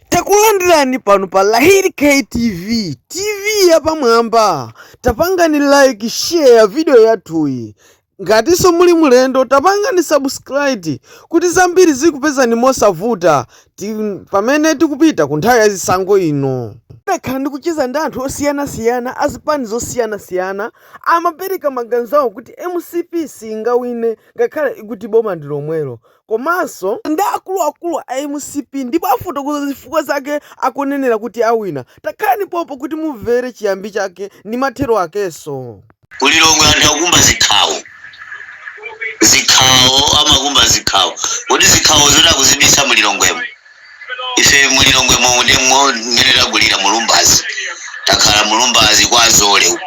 takulandirani pano pa lahiri ktv tv yapamwamba tapangani like share video yathuyi ngatinso muli mlendo tapangani subscribe kuti zambiri zikupezani mosavuta pamene tikupita ku nthawi ya zisankho ino ndakhala ndikucheza ndi anthu osiyanasiyana azipani zosiyanasiyana amapereka maganizo awo kuti mcp singawine ngakhale ikuti boma ndi lomwelo komanso ndi akuluakulu a mcp ndipo afotokoza zifukwa zake akunenera kuti awina. Takhalani pompano kuti mumvere chiyambi chake ndi mathero akenso. Mu Lilongwe anthu akukumba zikhawo. Zikhawo, amakumba zikhawo. Kodi zikhawo zoti akuzibisa mu Lilongwemo? Ife mu Lilongwe momu ndi mo- mmene takulira mu Lumbazi. Takhala mu Lumbazi kwa Zole uko.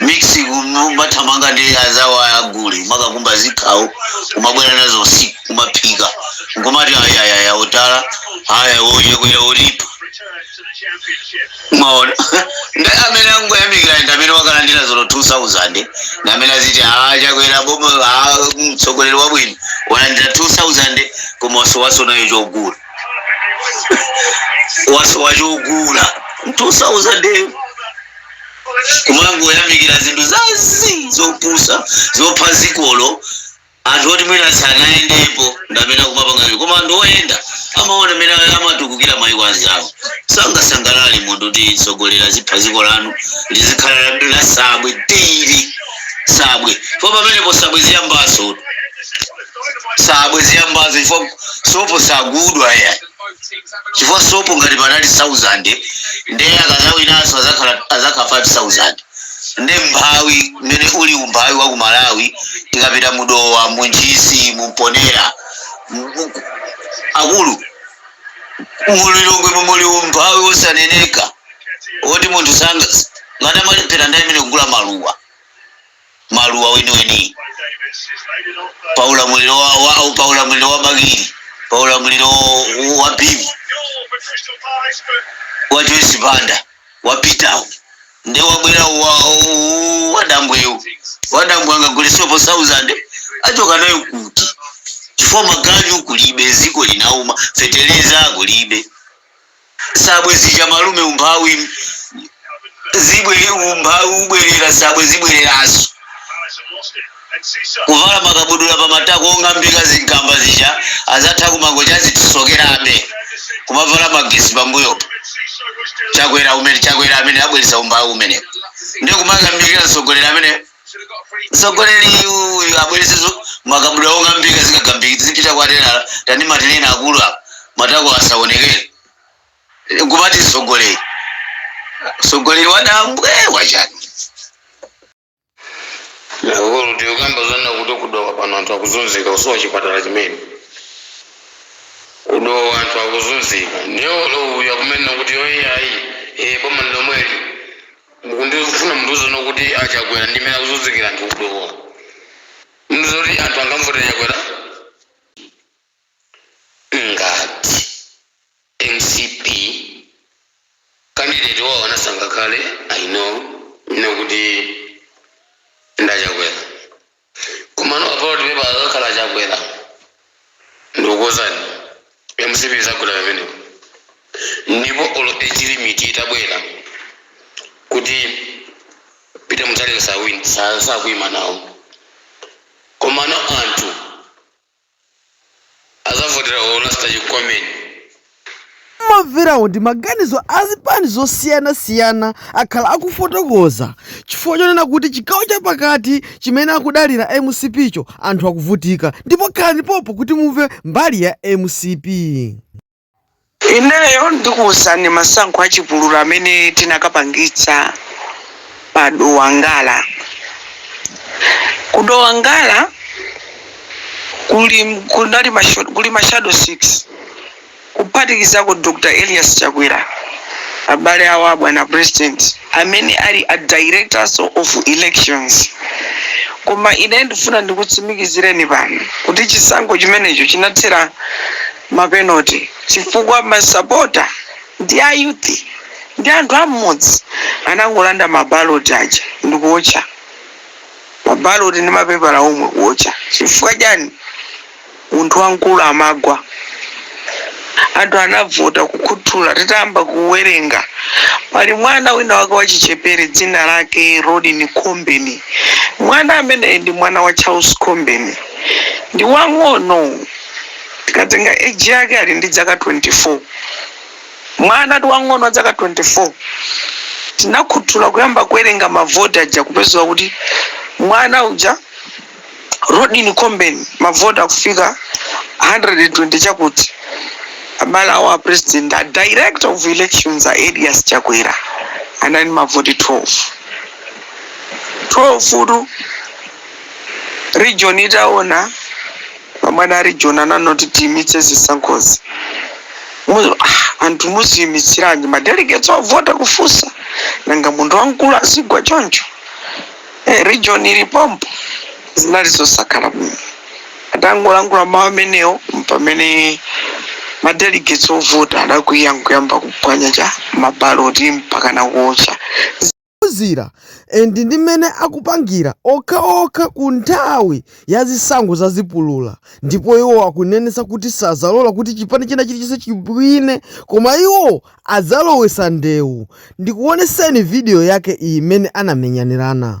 mix kumathamanga ndi azawo agule kumakakumba zikhawo kumabwera nazo usiku kumaphika nkumati ayayaya utala aya uye kuya ulipo mawona ndi amene angoyamikira ndi amene wakalandira olo 2000 ndi amene aziti ah chakwera boma ah mtsogoleri wabwino walandira 2000 koma wasowaso nayo chogula wasowa chogula 2000 eyo kumangoyamikira zinthu za zii zopusa zopha zikolo anthu oti mwina sanayendepo ndamene akumapanga koma anthu oyenda amaona mene amatukukira mayiko anzawo sangasangalale munthu kutitsogolera zipha ziko lanu lizikhala la- la sabwe tiri sabwe po pamenepo sabwe ziyambaso sabwe ziyambaso chifukwa sopo sagudwa ya chifukwa sopo ngati panali 1000 nde akazawinanso azakhala azakhala 5000 nde mphawi mmene uli umphawi wa ku malawi tikapita mudowa muntchisi mumponera mu- mu- akulu mulilongwe mumuli umphawi wosaneneka woti munthu sanga ngati amalipira ndale imene kugula maluwa maluwa weniweni pa ulamuliro wa, wa, au pa ulamuliro wa bakili pa ulamuliro wa bibi wa joyce banda wa Peter-wo nde wabwera wa- wa- wadambweyo wadambwe angagule sopo 1000 achoka nayo kuti chifukwa maganyu kulibe ziko linauma feteleza kulibe sabwe zija malume umphawi zibwere umphawi ubwerera sabwe zibwereraso kuvala makabudula pa matako ong'ambika zigamba zija azatha kumangoti azitisokerabe kumavala magesi pambuyopo chakwera umene chakwera amene abweresa umphawi umenewo ndiye kumayamikira mtsogoleri amene mtsogoleri uyu abweretse zo- makabudula ong'ambika zikagambika zipita kwa telala tani matenena akulu apa matako asaonekere kumati mtsogoleri mtsogoleri wadambwe wachani nakukulu tikukamba zonna kuti ku Dowa pano anthu akuzunzika kusowa chipatala chimene ku Dowa anthu akuzunzika ndiye olo uyu akumanena kuti oyeyayi e boma lomweli Mukufuna mundiuzeno kuti a Chakwera ndi mmene akuzunzikira anthu ku Dowa? Mundiuzeno kuti anthu angamuvotere Chakwera? Ngati mcp candidate wawo anasankha kale, I know ine kuti ndi a Chakwera. Komano pa ballot paper akakhala a Chakwera ndikukuuzani mcp izagwera pamenepo ndipo olo age limit itabwera kuti Peter Mutharika sali sa- sakuima nawo komano anthu azavotera u rasta you coming. Mwamverawo ndi maganizo a zipani zosiyanasiyana akhala akufotokoza chifukwa chonena kuti chigawo cha pakati chimene akudalira mcp cho anthu akuvutika ndipo khalani pompo kuti mumve mbali ya mcp. Ineyo ndikuuzani masankho a chipulula amene tinakapangitsa pa Dowa Ngala. Ku Dowa Ngala kuli mashado 6 kuphatikizako Dr. Elias Chakwera abale awo a bwana president amene ali a directors of elections koma ine ndifuna ndikutsimikizireni pano kuti chisankho chimenecho chinathera ma penalty chifukwa ma sapota ndi a youth ndi anthu a mmudzi anangolanda ma ballot aja ndikuotcha ma ballot ndi mapepala omwe kuotcha chifukwa chani munthu wamkulu amagwa anthu anavota kukhuthula titayamba kuwerenga pali mwana wina wake wachichepere dzina lake Rodney Khombeni mwana ameneyi ndi mwana wa Charles Khombeni ndi wang'ono tikatenga age yake ali ndi dzaka 24 mwana tu wang'ono wa dzaka 24 tinakhuthula kuyamba kuwerenga mavoti aja kupezeka kuti mwana uja Rodney Khombeni mavoti akufika 120 chakuti abale awo a president a director of elections a elias chakwera anali ndi mavoti 12 12 tu region itaona Pamene a region ananena kuti tiimitse zisankhozi, anthu muziimitsiranji ma delegates ovota? Kufunsa nanga munthu wamkulu azigwa choncho? Region ili pompo zinali zosakhala bwino. Atangolankhula mawu amenewo mpamene ma delegates ovota adakwiya nkuyamba kuphwanya cha? Ma ballot mpakana kuotcha. ophunzira and ndi mmene akupangira okhaokha kunthawi ya zisankho za zipulula ndipo iwo akunenetsa kuti sadzalola kuti chipani china chilichonse chiwine koma iwo adzalowetsa ndewu ndikuoneseni video yake iyi mmene anamenyanirana.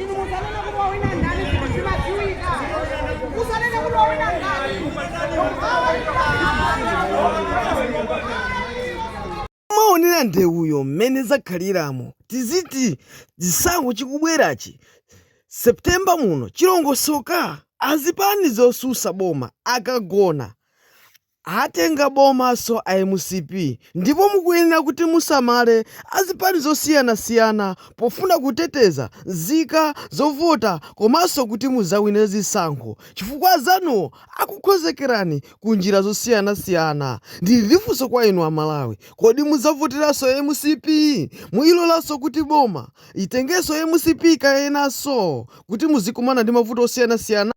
Inu musanena kuti wawina ndani ndipo zimadziwika. Musanena kuti wawina ndani. mwaonera ndewuyo mmene zakhaliramo tiziti chisankho chikubwerachi septemba muno chilongosoka azipani zosusa boma akagona Atenga bomaso a mcp ndipo mukuyenera kuti musamale azipani zosiyanasiyana pofuna kuteteza nzika zovota komaso kuti muzawine zisankho chifukwa azanuwo akukonzekerani ku njira zosiyanasiyana ndili ndi funso kwa inu a Malawi kodi muzavoteraso mcp muilolaso kuti boma itengeso mcp kenaso kuti muzikumana ndi mavuto osiyanasiyana